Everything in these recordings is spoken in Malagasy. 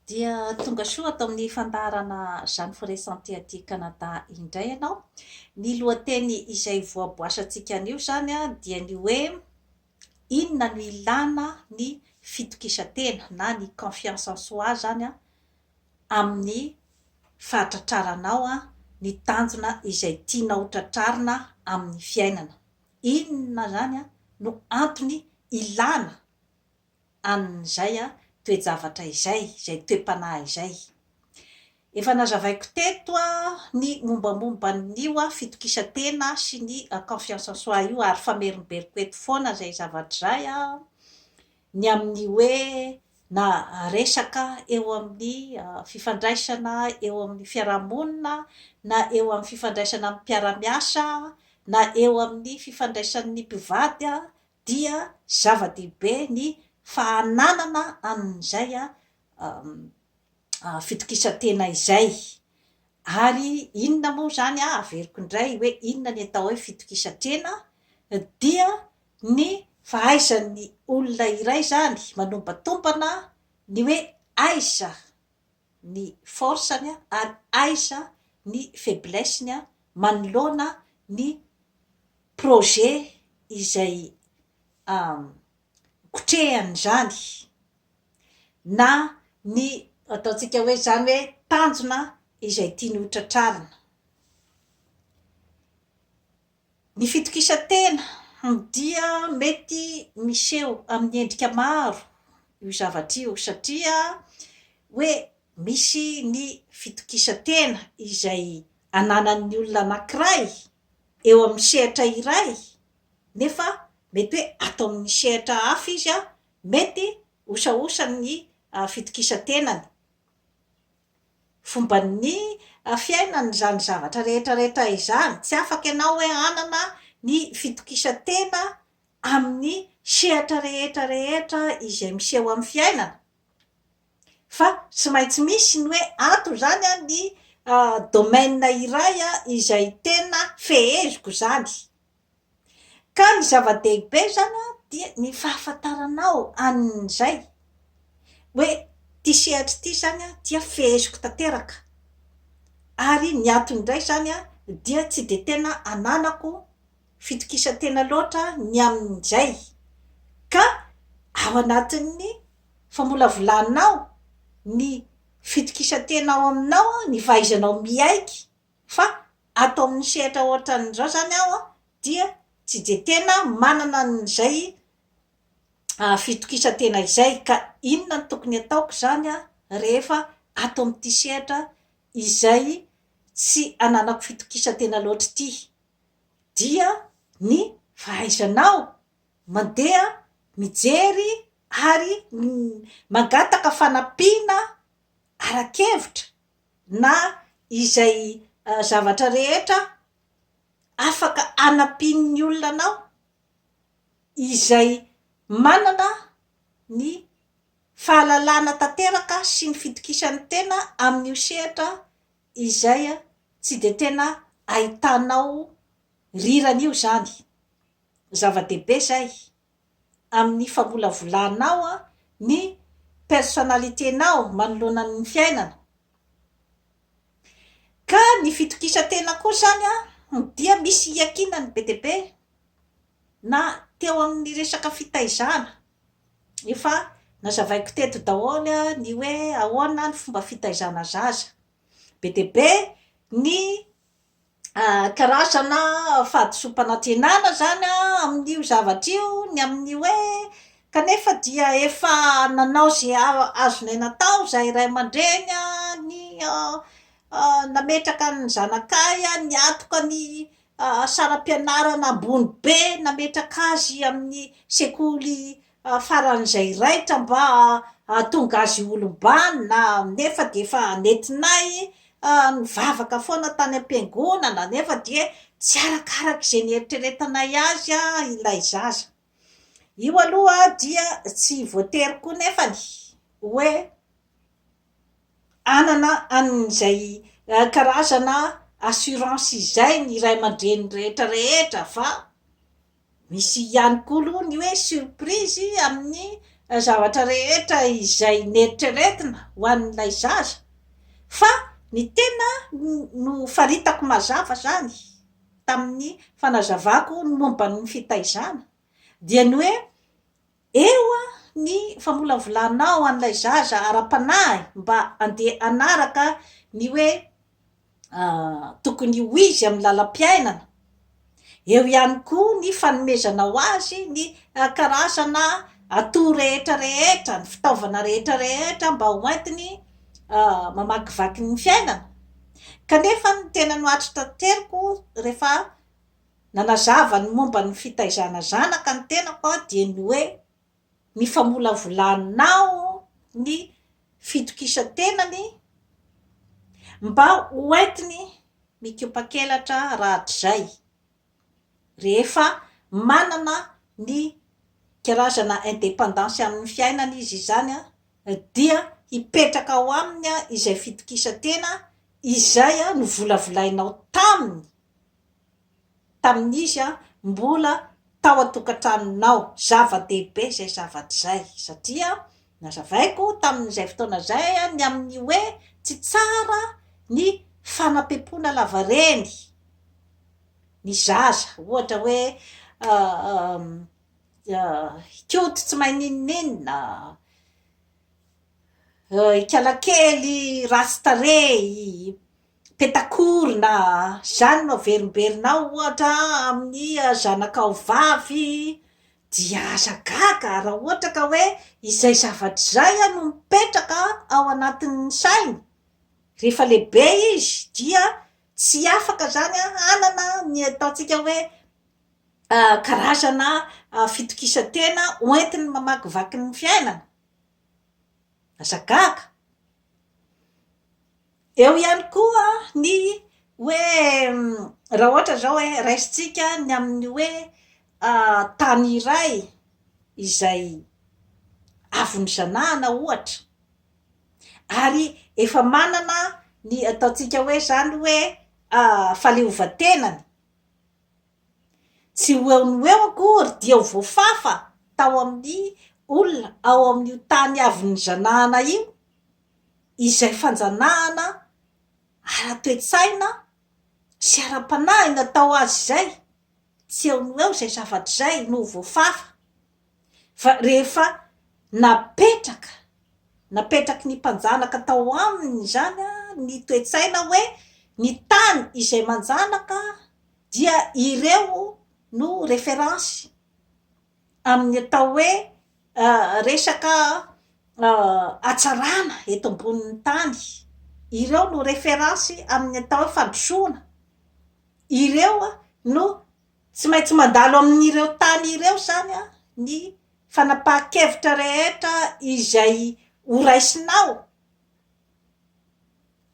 Dia tonga soa ato amin'ny fandaharana Jeanne Foret Santé aty Canada indray ianao. Ny lohateny izay voaboasantsika anio izany dia ny hoe inona no ilana ny fitokisan-tena na ny confiance en soi izany amin'ny fahatratraranao ny tanjona izay tianao ho tratrarina amin'ny fiainana. Inona izany no antony ilana amin'izay toe-javatra izay, izay toe-panahy izay. Efa nazavaiko teto ny mombamomban'io fitokisan-tena sy ny confiance en soi io ary famerimberiko eto foana izay zavatra izay ny amin'ny hoe na resaka eo amin'ny fifandraisana eo amin'ny fiarahamonina na eo amin'ny fifandraisana amin'ny mpiara-miasa na eo amin'ny fifandraisan'ny mpivady dia zava-dehibe ny fahananana an'izay fitokisan-tena izay. Ary inona moa izany, averiko indray hoe inona ny atao hoe fitokisan-tena, dia ny fahaizan'ny olona iray izany manombantombana ny hoe aiza ny force-ny ary aiza ny faiblesse-ny manoloana ny projet izay hikotrehany izany na ny ataontsika hoe izany hoe tanjona izay tiany ho tratrarina. Ny fitokisan-tena dia mety miseho amin'ny endrika maro io zavatra io satria hoe misy ny fitokisan-tena izay ananan'ny olona anankiray eo amin'ny sehatra iray nefa mety hoe ato amin'ny sehatra hafa izy mety osaosany ny fitokisan-tenany, fomban'ny fiainany izany zavatra rehetrarehetra izany, tsy afaka ianao hoe hanana ny fitokisan-tena amin'ny sehatra rehetrarehetra izay miseho amin'ny fiainana. Fa tsy maintsy misy ny hoe ato izany ny domaine iray izay tena feheziko izany. Ka ny zava-dehibe izany dia ny fahafantaranao an'izay hoe ity sehatra ity izany dia feheziko tanteraka. Ary ny atony indray izany dia tsy dia tena ananako. fitokisan-tena loatra ny amin'izay, ka ao anatin'ny famolavolanao ny fitokisan-tena ao aminao, ny fahaizanao miaiky fa ato amin'ny sehatra ohatran'izao izany aho dia tsy dia tena manana an'izay fitokisan-tena izay, ka inona no tokony hataoko izany rehefa ato amin'ity sehatra izay tsy ananako fitokisan-tena loatra ity? dia ny fahaizanao mandeha mijery ary mangataka fanampiana ara-kevitra na izay zavatra rehetra afaka anampian'ny olona anao izay manana ny fahalalana tanteraka sy ny fitokisan'ny tena amin'io sehatra Izay a, tsy dia tena ahitanao rirany io izany. Zava-dehibe izay amin'ny famolavolanao ny personnalité-nao manoloana ny fiainana. Ka ny fitokisan-tena koa izany dia misy iankinany be dia be na teo amin'ny resaka fitaizana Efa nazavaiko teto daholo ny hoe ahoana ny fomba fitaizana zaza. Be dia be ny karazana fahadisoam-panantenana izany amin'io zavatra io, ny amin'ny hoe kanefa dia efa nanao izay azonay natao izahay ray aman-dreny, ny nametraka ny zanakay, niatoka ny saram-pianarana ambony be nametraka azy amin'ny sekoly faran'izay raitra mba hahatonga azy ho olom-banona, nefa dia efa nentinay nivavaka foana tany am-piangonana, nefa dia tsy arakaraka izay nieritreretanay azy ilay zaza. Io aloha dia tsy voatery koa nefany hoe hanana an'izay karazana assurance izay ny ray aman-dreny rehetra rehetra fa misy ihany koa aloha ny hoe surprise amin'ny zavatra rehetra izay neritreretina ho an'ilay zaza fa ny tena nofaritako mazava izany tamin'ny fanazavako ny momba ny fitaizana dia ny hoe Eo ny famolavolanao an'ilay zaza ara-panahy mba andeha hanaraka ny hoe tokony ho izy amin'ny lalam-piainana. Eo ihany koa ny fanomezanao azy ny karazana atout rehetra rehetra, ny fitaovana rehetra rehetra mba ho entiny mamakivaky ny fiainana. Kanefa ny tena nohatry tanteriko rehefa nanazava ny momba ny fitaizana zanaka ny tenako aho dia ny hoe ny famolavolanao ny fitokisan-tenany mba ho entiny mikopakelatra rahatrizay rehefa manana ny karazana independance amin'ny fiainany izy izany dia hipetraka ao aminy izay fitokisan-tena izay novolavolainao taminy tamin'izy mbola tao an-tokantranonao. Zava-dehibe izay zavatra izay, satria nazavaiko tamin'izay fotoana izay ny amin'ny hoe tsy tsara ny fanapempoana lavareny ny zaza. Ohatra hoe hikoty tsy mahay n'inon'inona, hikala kely ratsy tarehy. Petakorona, Izany no averimberinao ohatra amin'ny zanakao vavy dia aza gaga raha ohatra ka hoe izay zavatra izay no mipetraka ao anatin'ny sainy rehefa lehibe izy dia tsy afaka izany hanana ny ataontsika hoe karazana fitokisan-tena hoentiny mamakivaky ny fiainana. Aza gaga. Eo ihany koa ny hoe raha ohatra izao hoe raisintsika ny amin'ny hoe tany iray izay avy nizanahana ohatra ary efa manana ny ataontsika hoe izany hoe fahaleovantenany, tsy ho eo noho eo akory dia ho voafafa tao amin'ny olona ao amin'io tany avy nizanahana io. izay fanjanahana ara-toe-tsaina sy ara-panahy natao azy izay, tsy eo no eo izay zavatra izay no voafafa fa rehefa napetraka, napetraky ny mpanjanaka tao aminy izany ny toe-tsaina hoe ny tany izay manjanaka dia ireo no reference amin'ny atao hoe resaka hatsarana eto ambonin'ny tany ireo no reference amin'ny atao hoe fandrosoana ireo no tsy maintsy mandalo amin'ireo tany ireo zany an ny fanapahan-kevitra rehetra izay ho raisinao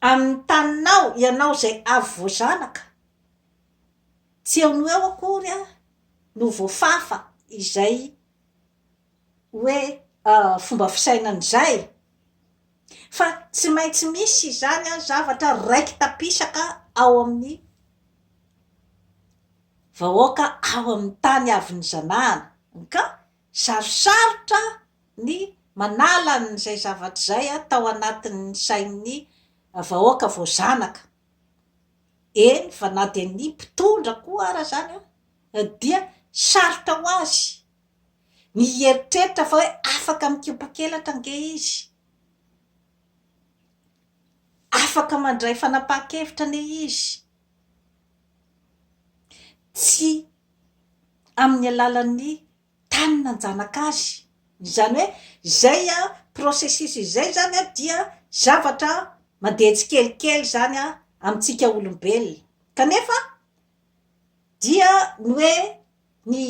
amin'ny taninao ianao izay avy vao zanaka tsy eo noho eo akory an no voafafa izay hoe fomba fisainana izay fa tsy maintsy misy izany an zavatra raiki-tapisaka ao amin'ny vahoaka ao amin'ny tany avy nizanahana ka sarosarotra ny manala an'izay zavatra izay tao anatin'ny sain'ny vahoaka voazanaka, eny fa na dia ny mpitondra koa ara zany an dia sarotra ho azy ny hieritreritra fa hoe afaka mikopakelatra ange izy, afaka mandray fanapahan-kevitra anie izy, tsy amin'ny alalan'ny tany nanjanaka azy, izany hoe izay processus izay izany an, dia zavatra mandeha tsikelikely izany an, amintsika olombelona, kanefa dia ny hoe ny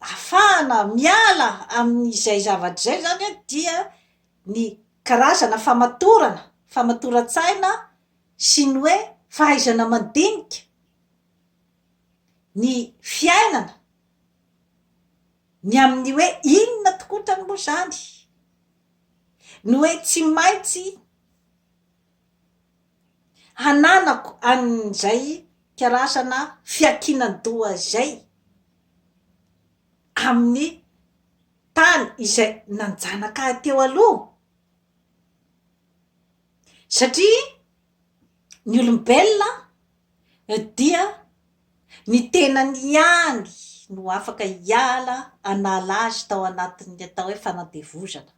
afahana miala amin'izay zavatra izay izany an, dia ny karazana famatorana, famatoran-tsaina sy ny hoe fahaizana mandinika ny fiainana, ny amin'ny hoe inona tokotrany moa izany no hoe tsy maintsy hananako an'izay karazana fiankinan-doha izay amin'ny tany izay nanjanaka ahy teo aloha? Satria ny olombelona dia ny tenany ihany no afaka hiala hanala azy tao anatin'ny atao hoe fanandevozana.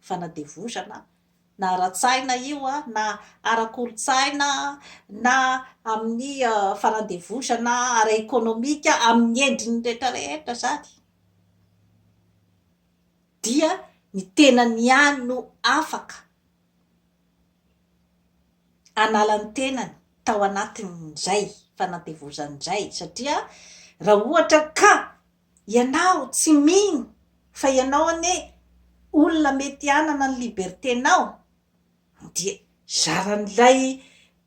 fanadevozana na ara-tsaina io na ara-kolontsaina na amin'ny fanadevozana ara-ekonomika amin'ny endriny rehetra rehetra izany dia ny tenany ihany no afaka hanala ny tenany tao anatin'izay fanadevozana izay satria raha ohatra ka Ianao tsy mino fa ianao anie olona mety hanana ny liberté-nao dia zaran'ilay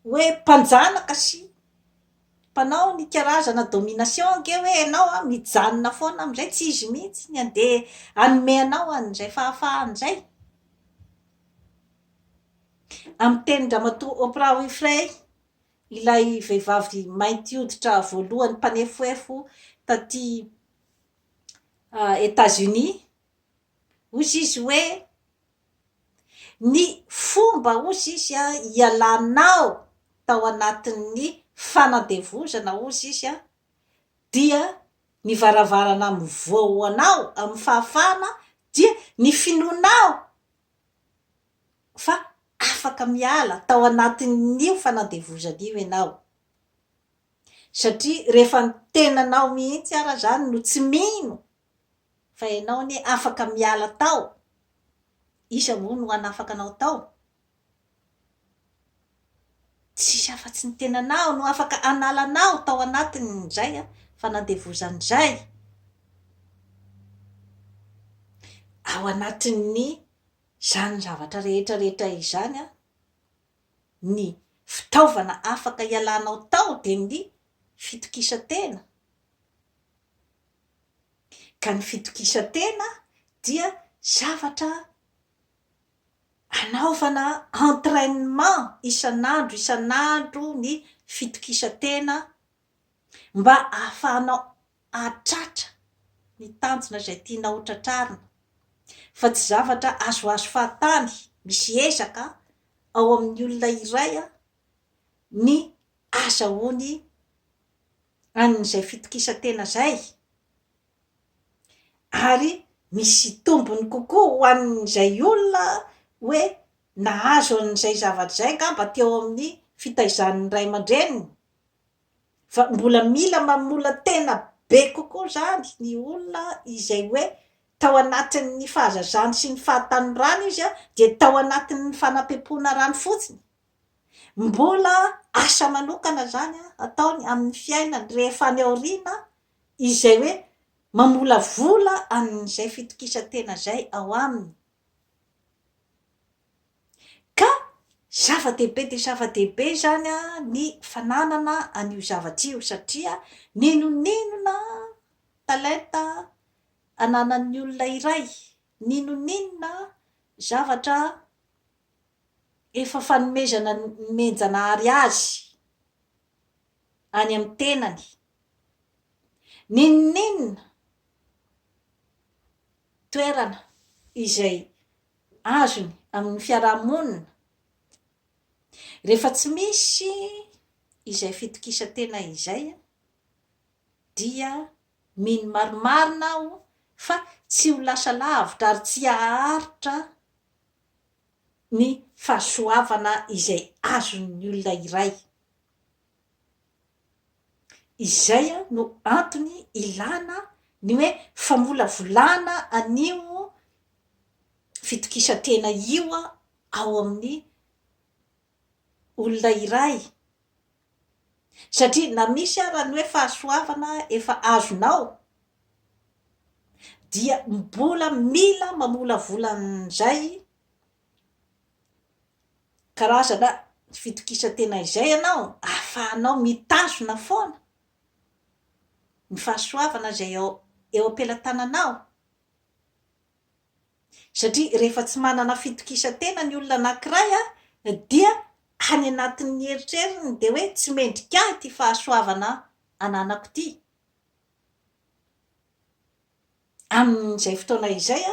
hoe mpanjanaka sy mpanao ny karazana domination ange hoe ianao an, mijanona foana amin'izay tsy izy mihitsy ny handeha hanome anao an'izay fahafahany izay. Amin'ny tenin-dRamatoa Oprah Winfrey. Ilay vehivavy mainty hoditra voalohany mpanefoefo taty Etats-Unis, hozy izy hoe, Ny fomba, hozy izy, hialanao tao anatin'ny fanandevozana, hozy izy, dia ny varavarana mivoha ho anao amin'ny fahafahana dia ny finoanao. fa afaka miala tao anatin'io fanandevozana io ianao. Satria rehefa ny tenanao mihitsy ara izany no tsy mino fa ianao anie afaka miala tao, iza moa no hanafaka anao tao? Tsisy afa-tsy ny tenanao no afaka hanala anao tao anatin'izay fanandevozan'izay ao anatin'izany zavatra rehetra rehetra izany. Ny fitaovana afaka hialanao tao dia ny fitokisan-tena. Ka ny fitokisan-tena dia zavatra. Anaovana entrainement isan'andro isan'andro ny fitokisan-tena mba ahafahanao hahatratra ny tanjona izay tianao ho tratrarina fa tsy zavatra azoazo fahatany, misy ezaka ao amin'ny olona iray ny ahazahoany an'izay fitokisan-tena izay. ary misy tombony kokoa ho an'izay olona hoe nahazo an'izay zavatra izay angamba teo amin'ny fitaizan'ny ray aman-dreniny fa mbola mila mamola-tena be kokoa izany ny olona izay hoe tao anatin'ny fahazazany sy ny fahatanorany izy dia tao anatin'ny fanampiam-poana rany fotsiny, mbola asa manokana izany ataony amin'ny fiainany rehefa any aoriana izay hoe mamolavola an'izay fitokisan-tena izay ao aminy. Ka zava-dehibe dia zava-dehibe izany ny fananana an'io zavatra io, satria n'inon'inona talenta ananan'ny olona iray, n'inon'inona zavatra efa fanomezana nomen'Janahary azy, any amin'ny tenany. N'inon'inona toerana izay azony amin'ny fiarahamonina, rehefa tsy misy izay fitokisan-tena izay dia mino marimarina aho fa tsy ho lasa lavitra ary tsy haharitra ny fahasoavana izay azon'ny olona iray. Izay no antony ilana ny hoe famolavolana an'io fitokisan-tena io ao amin'ny olona iray. Satria na misy ara ny hoe fahasoavana efa azonao dia mbola mila mamolavola an'izay karazana fitokisan-tena izay ianao ahafahanao mitazona foana ny fahasoavana izay eo am-pelatananao. Satria rehefa tsy manana fitokisan-tena ny olona anankiray dia any anatin'ny eritreriny dia hoe tsy mendrika ahy ity fahasoavana ananako ity. Amin'izay fotoana izay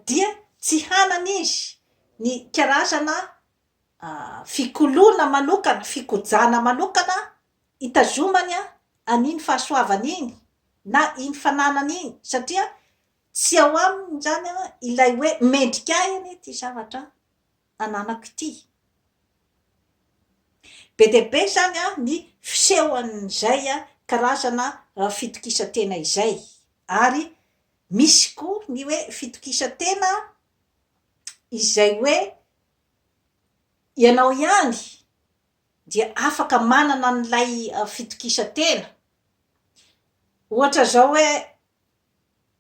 dia tsy hanana izy ny karazana fikoloana manokana, fikojana manokana hitazomany an'iny fahasoavany iny na iny fananany iny satria Tsy ao aminy izany ilay hoe mendrika ahy anie ity zavatra ananako ity. Be dia be izany ny fisehon'izay karazana fitokisan-tena izay. Ary misy koa ny hoe fitokisan-tena izay hoe ianao ihany dia afaka manana an'ilay fitokisan-tena. Ohatra izao hoe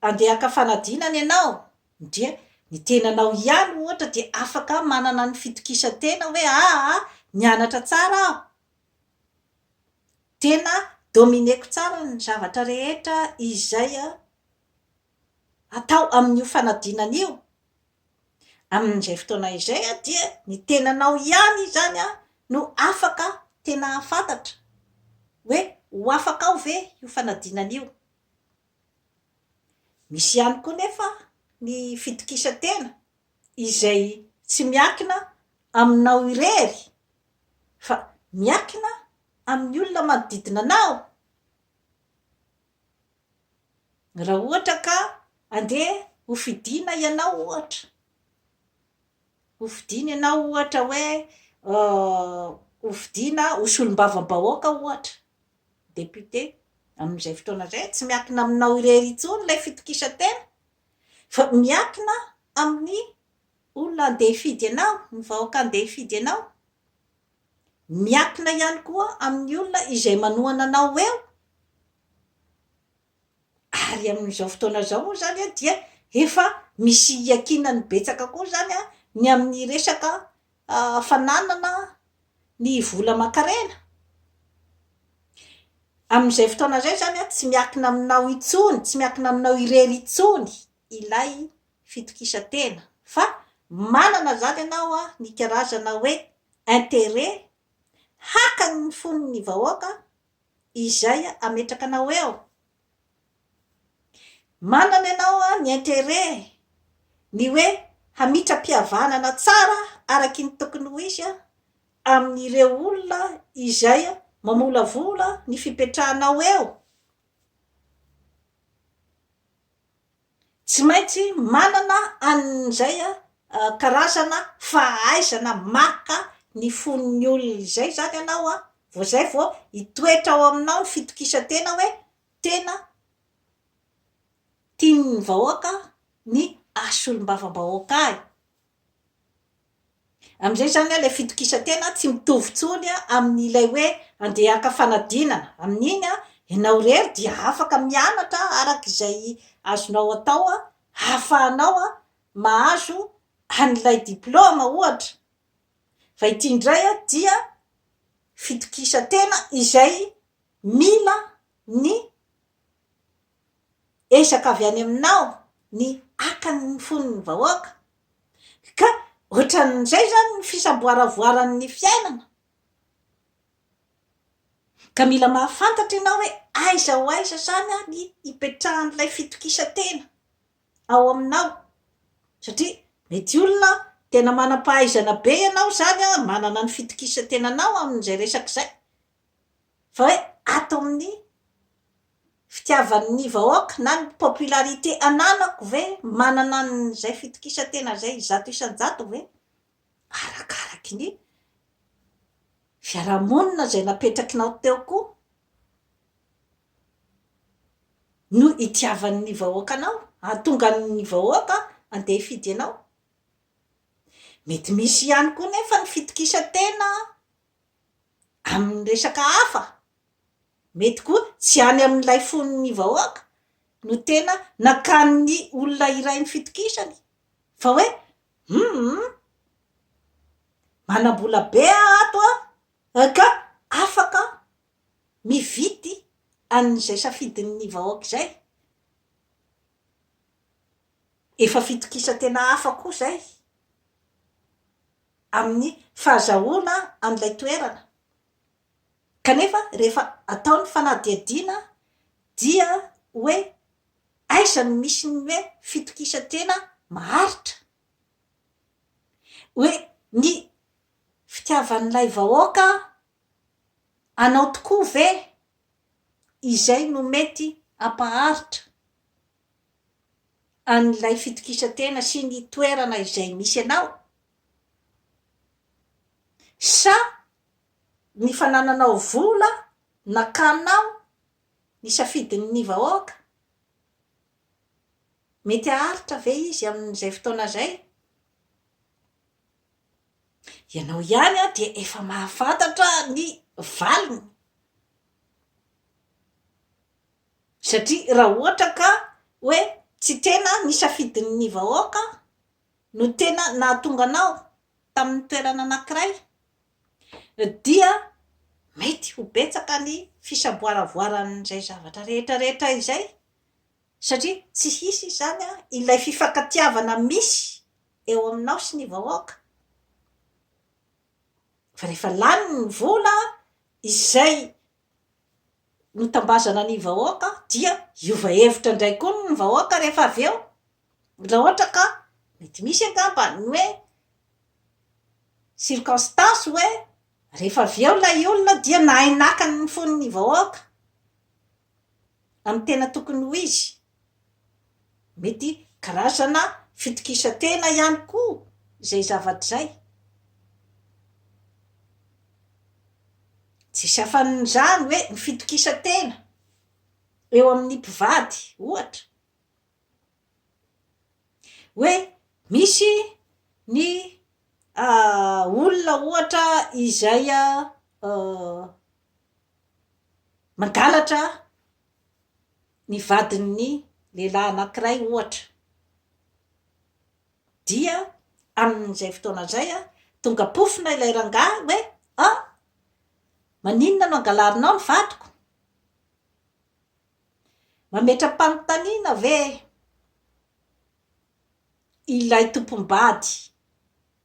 Andeha haka fanadina anie ianao, ndria ny tenanao ihany ohatra dia afaka manana ny fitokisan-tena hoe aa nianatra tsara aho, tena dominer-ko tsara ny zavatra rehetra izay atao amin'io fanadinana io, amin'izay fotoana izay dia ny tenanao ihany izany no afaka tena hahafantatra hoe ho afaka ao ve io fanadinana io, Misy ihany koa nefa ny fitokisan-tena izay tsy miankina aminao irery fa miankina amin'ny olona manodidina anao. Raha ohatra ka andeha ho fidiana ianao ohatra, ho fidiana ianao ohatra hoe ho fidiana ho solombavambahoaka ohatra, Député, Amin'izay fotoana izay, tsy miankina aminao irery intsony ilay fitokisan-tena, fa miankina amin'ny olona handeha hifidy anao, ny vahoaka handeha hifidy anao. Miankina ihany koa amin'ny olona izay manohana anao eo. ary amin'izao fotoana izao moa izany dia efa misy iankinany betsaka koa izany ny amin'ny resaka fananana ny vola aman-karena, amin'izay fotoana izay izany tsy miankina aminao intsony, tsy miankina aminao irery intsony ilay fitokisan-tena fa manana izany ianao ny karazana hoe interet haka ny fon'ny vahoaka izay ametrakanao eo. Manana ianao ny interet ny hoe hamitra-pihavanana tsara araky ny tokony ho izy amin'ireo olona izay mamolavola ny fipetrahanao eo. Tsy maintsy manana an'izay karazana fahaizana maka ny fon'ny olona izay izany ianao an, vao izay vao hitoetra ao aminao ny fitokisan-tena hoe tena tian'ny vahoaka ny haha-solombavambahoaka ahy. Amin'izay izany ilay fitokisan-tena tsy mitovy intsony amin'ilay hoe handeha haka fanadinana. Amin'iny ianao irery dia afaka mianatra araka izay azonao atao hahafahanao mahazo an'ilay diplaoma ohatra. Fa ity indray dia fitokisan-tena izay mila ny ezaka avy any aminao ny haka ny fon'ny vahoaka ka ohatran'izay zany ny fisamboaravoaran'ny fiainana ka mila mahafantatra ianao hoe aiza ho aiza zany ary ny hipetrahan'ilay fitokisantena ao aminao satria mety olona tena manam-pahaizana be ianao zany manana ny fitokisantenanao amin'izay resaka izay fa hoe ato amin'ny fitiavan'ny vahoaka na ny popularité ananako ve manana an'izay fitokisan-tena izay zato isan-jato ve? Arakaraky ny fiarahamonina izay napetrakinao teo koa no itiavan'ny vahoaka anao, hahatonga ny vahoaka handeha hifidy anao. Mety misy ihany koa nefa ny fitokisan-tena an! amin'ny resaka hafa, mety koa tsy any amin'ilay fon'ny vahoaka no tena nakan'ny olona iray ny fitokisany fa hoe humm, manam-bola be aho ato an, ka afaka mividy an'izay safidin'ny vahoaka izay. Efa fitokisan-tena hafa koa izay. amin'ny fahazahoana an'ilay toerana, kanefa rehefa atao ny fanadihadiana dia hoe aiza no misy ny hoe fitokisan-tena maharitra, hoe ny fitiavan'ilay vahoaka anao tokoa ve izay no mety hampaharitra. an'ilay fitokisantena sy ny toerana izay misy anao? Sa ny fanananao vola nakanao ny safidin'ny vahoaka? Mety haharitra ve izy amin'izay fotoana izay? Ianao ihany dia efa mahafantatra ny valiny. Satria raha ohatra ka hoe tsy tena ny safidin'ny vahoaka no tena nahatonga anao tamin'ny toerana anankiray dia mety ho betsaka ny fisaboaravoaran'izay zavatra rehetra rehetra izay satria tsy hisy izany ilay fifankatiavana misy eo aminao sy ny vahoaka fa rehefa lany ny vola izay notambazana ny vahoaka dia hiova hevitra indray koa ny vahoaka rehefa avy eo raha ohatra ka mety misy angamba ny hoe circonstance hoe rehefa avy eo ilay olona dia nahay naka ny fon'ny vahoaka amin'ny tena tokony ho izy Mety karazana fitokisan-tena ihany koa izay zavatra izay. Tsisy afan'izany hoe ny fitokisan-tena eo amin'ny mpivady, ohatra, hoe misy ny olona ohatra izay mangalatra, Ny vadin'ny lehilahy anankiray, ohatra, dia amin'izay fotoana izay tonga pofona ilay rangahy hoe, Ah! Maninona no angalarinao ny vadiko? Mametra-panontaniana ve ilay tompom-bady?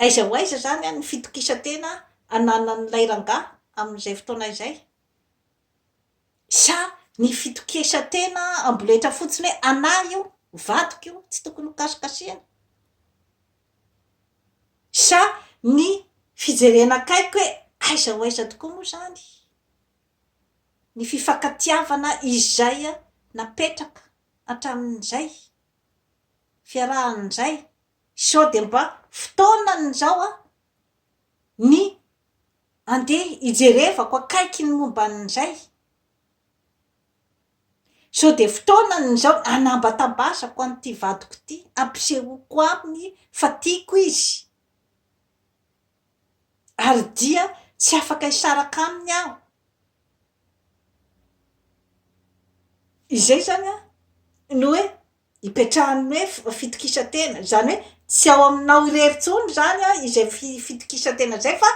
Aiza ho aiza izany ny fitokisan-tena ananan'ilay rangahy amin'izay fotoana izay? Sa ny fitokisan-tena amboletra fotsiny hoe anah io, vadiko io, tsy tokony hokasikasihina? Sa ny fijerena akaiky hoe aiza ho aiza tokoa moa izany ny fifankatiavana izay napetraka hatramin'izay? fiarahany indray sao dia mba fotoanany izao an ny andeha hijerevako akaiky ny momba an'ny indray sao dia fotoanany izao hanambatambazako an'ity vadiko ity hampisehoako aminy fa tiako izy Ary dia tsy afaka hisaraka aminy aho. Izay izany no hoe ipetrahan'ny hoe fitokisan-tena. Izany hoe tsy ao aminao irery intsony izany izay fi- fitokisan-tena izay fa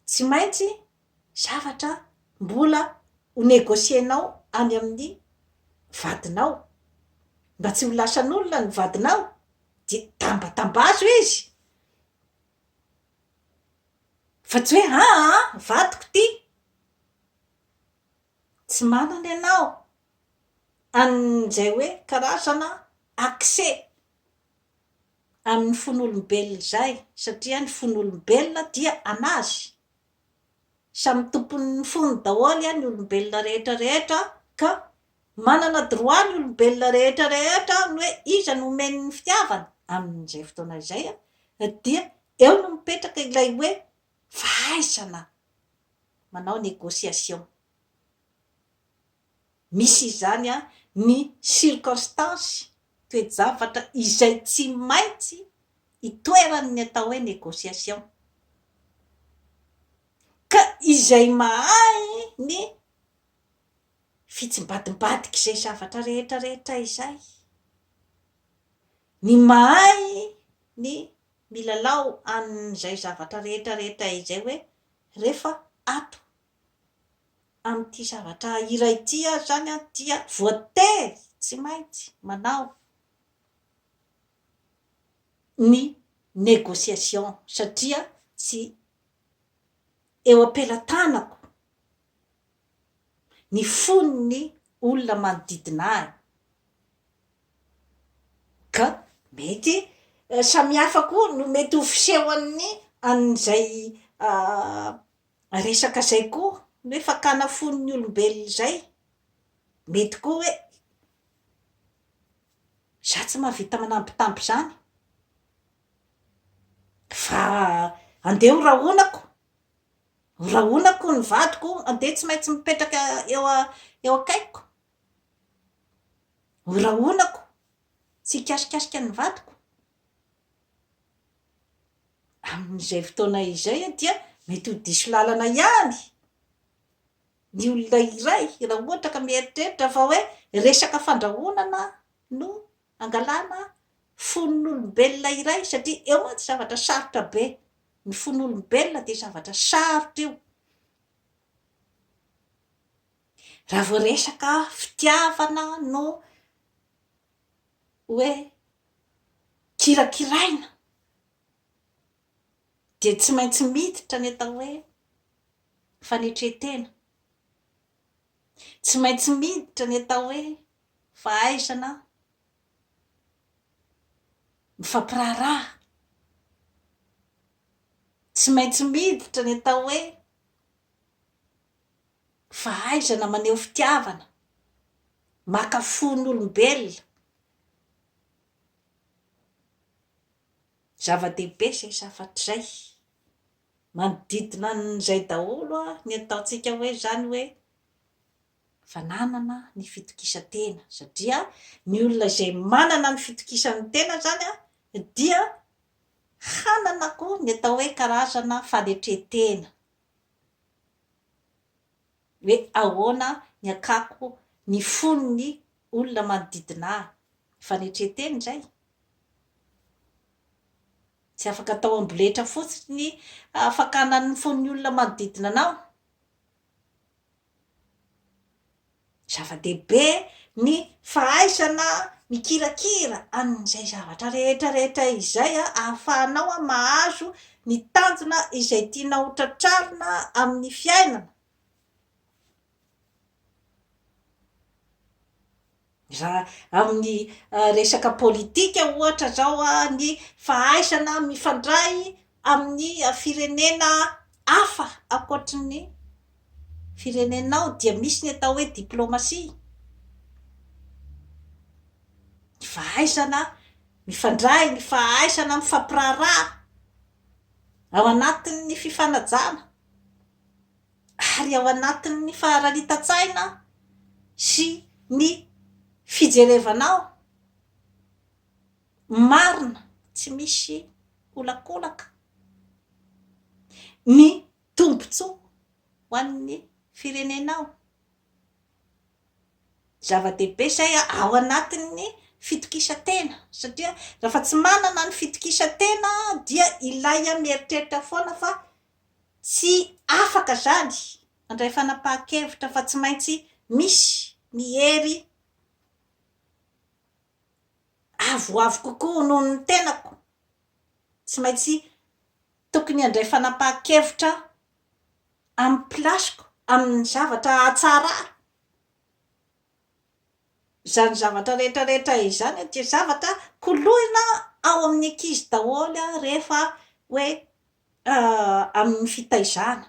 tsy maintsy zavatra mbola ho negocier-nao any amin'ny vadinao. Mba tsy ho lasan'olona ny vadinao dia tambatambazo izy. Fa tsy hoe haa an! vadiko ity! Tsy manana ianao an'izay hoe karazana accès amin'ny fon'olombelona izay satria ny fon'olombelona dia an'azy. Samy tompon'ny fony daholo ny olombelona rehetra rehetra ka manana droit ny olombelona rehetra rehetra ny hoe iza no omeny ny fitiavana amin'izay fotoana izay dia eo no mipetraka ilay hoe fahaizana manao négociation. Misy izany ny circonstance, toe-javatra, izay tsy maintsy itoeran'ny atao hoe négociation. Ka izay mahay ny fitsimbadimbadik'izay zavatra rehetrarehetra izay, ny mahay ny milalao an'izay zavatra rehetrarehetra izay hoe rehefa ato amin'ity zavatra iray ity ary izany dia voatery tsy maintsy manao ny négociation satria tsy eo am-pelatanako ny fon'ny olona manodidina ahy ka mety samihafa koa no mety ho fisehon'ny an'izay Resaka izay koa ny hoe fakana fon'ny olombelona izay, mety koa hoe za tsy mahavita manambitamby izany fa andeha ho rahonako, ho rahonako ny vadiko andeha tsy maintsy mipetraka eo eo akaikiko, ho rahonako tsy hikasikasika ny vadiko. Amin'izay fotoana izay dia mety ho diso lalana ihany ny olona iray raha ohatra ka mieritreritra fa hoe resaka fandrahonana no hangalana fon'olombelona iray satria eo mantsy zavatra sarotra be, ny fon'olombelona dia zavatra sarotra io. Raha vao resaka fitiavana no hoe kirakiraina dia tsy maintsy miditra ny atao hoe fanetren-tena, tsy maintsy miditra ny atao hoe fahaizana mifampiraharaha, tsy maintsy miditra ny atao hoe fahaizana maneho fitiavana, maka fon'olombelona, zava-dehibe izay zavatra izay, manodidina an'izay daholo ny ataontsika hoe izany hoe fananana ny fitokisan-tena, satria ny olona izay manana ny fitokisan'ny tena izany an, dia hanana koa ny atao hoe karazana fanetren-tena. hoe ahoana ny hakako ny fon'ny olona manodidina ahy. Fanetren-teny indray. Tsy afaka atao amboletra fotsiny ny fakana ny fon'ny olona manodidina anao. Zava-dehibe ny fahaizana mikirakira an'izay zavatra rehetra rehetra izay ahafahanao mahazo ny tanjona izay tianao ho tratrarina amin'ny fiainana. Raha amin'ny resaka politika ohatra izao ny fahaizana mifandray amin'ny firenena hafa ankoatry ny firenenao dia misy ny atao hoe diplomasia, ny fahaizana mifandray, ny fahaizana mifampiraharaha ao anatin'ny fifanajana. ary ao anatin'ny faharanitan-tsaina sy ny fijerevanao marina tsy misy olakolaka ny tombotsoa ho an'ny firenenao. Zava-dehibe izay ao anatin'ny fitokisan-tena satria raha fa tsy manana ny fitokisan-tena dia ilay mieritreritra foana fa Tsy afaka izany handray fanapahan-kevitra fa tsy maintsy misy ny hery avoavo kokoa noho ny tenako. Tsy maintsy tokony handray fanapahan-kevitra amin'ny place-ko, amin'ny zavatra hatsarako izany zavatra rehetrarehetra izany dia zavatra koloina ao amin'ny ankizy daholo rehefa hoe amin'ny fitaizana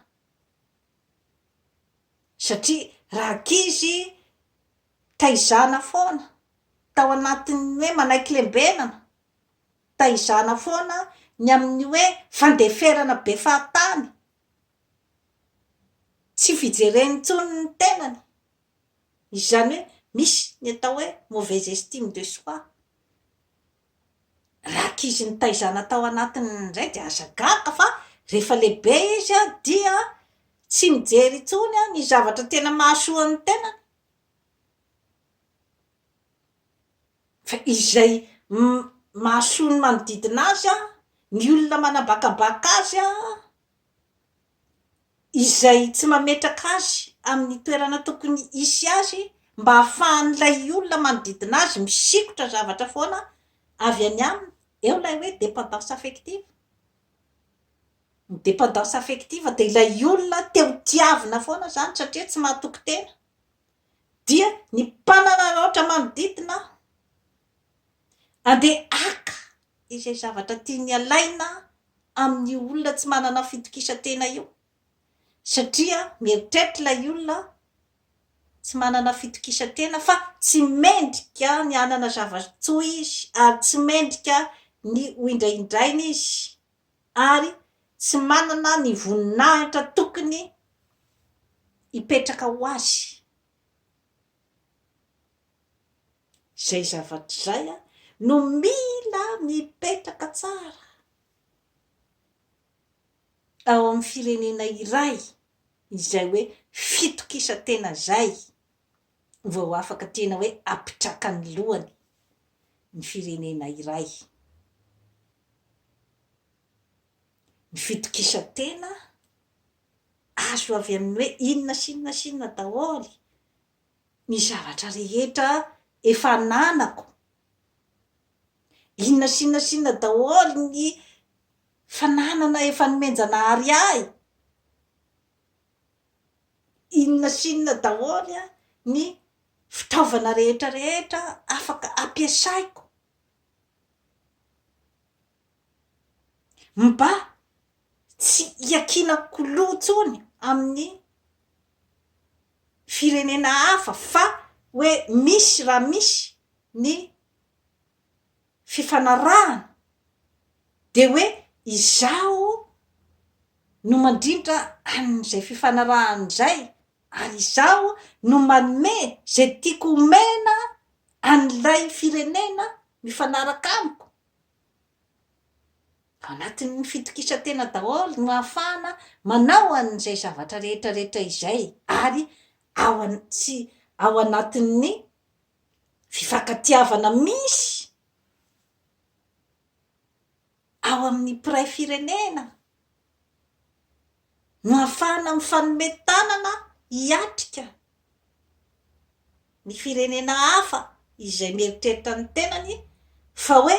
satria raha ankizy taizana foana tao anatin'ny hoe manaiky lembenana, taizana foana ny amin'ny hoe fandeferana be fahatany, tsy fijereny intsony ny tenany, izany hoe misy ny atao hoe mauvaise estime de soi. Raha ankizy nitaizana tao anatiny indray dia aza gaga fa rehefa lehibe izy dia tsy mijery intsony ny zavatra tena mahasoa ny tenany fa izay mahasoa ny manodidina azy, ny olona manabakabaka azy. izay tsy mametraka azy amin'ny toerana tokony hisy azy mba hahafahan'ilay olona manodidina azy misikotra zavatra foana avy any aminy, eo ilay hoe dépendance affective, ny dépendance affective dia ilay olona te ho tiavina foana izany satria tsy mahatoky tena dia ny mpanararaotra manodidina Andeha haka izay zavatra tiany alaina amin'io olona tsy manana fitokisan-tena io satria mieritreritra ilay olona tsy manana fitokisan-tena fa tsy mendrika ny hanana zava-tsoa izy ary tsy mendrika ny hoindrahindraina izy ary tsy manana ny voninahitra tokony hipetraka ho azy. Izay zavatra izay no mila mipetraka tsara ao amin'ny firenena iray izay hoe fitokisan-tena izay vao afaka tena hoe hampitraka ny lohany ny firenena iray. Ny fitokisan-tena azo avy amin'ny hoe inona sy inona sy inona daholo. ny zavatra rehetra efa ananako, inona sy inona sy inona daholo ny fananana efa nomen-janahary ahy, inona sy inona daholo ny fitaovana rehetra rehetra afaka ampiasaiko, Mba tsy hiakiana k'lou intsony amin'ny firenena hafa fa hoe misy raha misy ny fifanarahana dia hoe izaho no mandrindra an'izay fifanarahana izay ary izaho no manome izay tiako omena an'ilay firenena mifanaraka amiko. Anatin'ny fitokisan-tena daholo no ahafahana manao an'izay zavatra rehetra rehetra izay ary ao an tsy ao anatin'ny fifankatiavana misy ao amin'ny mpiray firenena. no ahafahana mifanome tanana hiatrika ny firenena hafa izay mieritreritra ny tenany fa hoe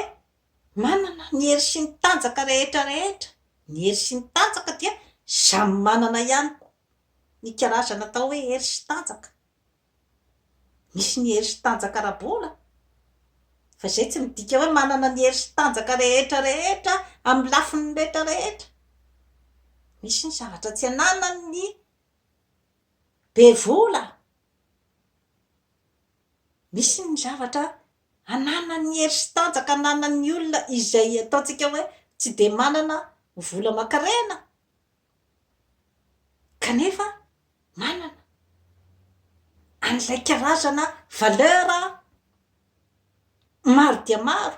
manana ny hery sy ny tanjaka rehetra rehetra, ny hery sy ny tanjaka dia samy manana ihany koa ny karazana atao hoe hery sy tanjaka Misy ny hery sy tanjaka ara-bola, fa izay tsy midika hoe manana ny hery sy tanjaka rehetra rehetra amin'ny lafiny rehetra rehetra. Misy ny zavatra tsy ananan'ny be vola, misy ny zavatra ananan'ny hery sy tanjaka ananan'ny olona izay ataontsika hoe tsy dia manana vola aman-karena. Kanefa manana an'ilay karazana valeur maro dia maro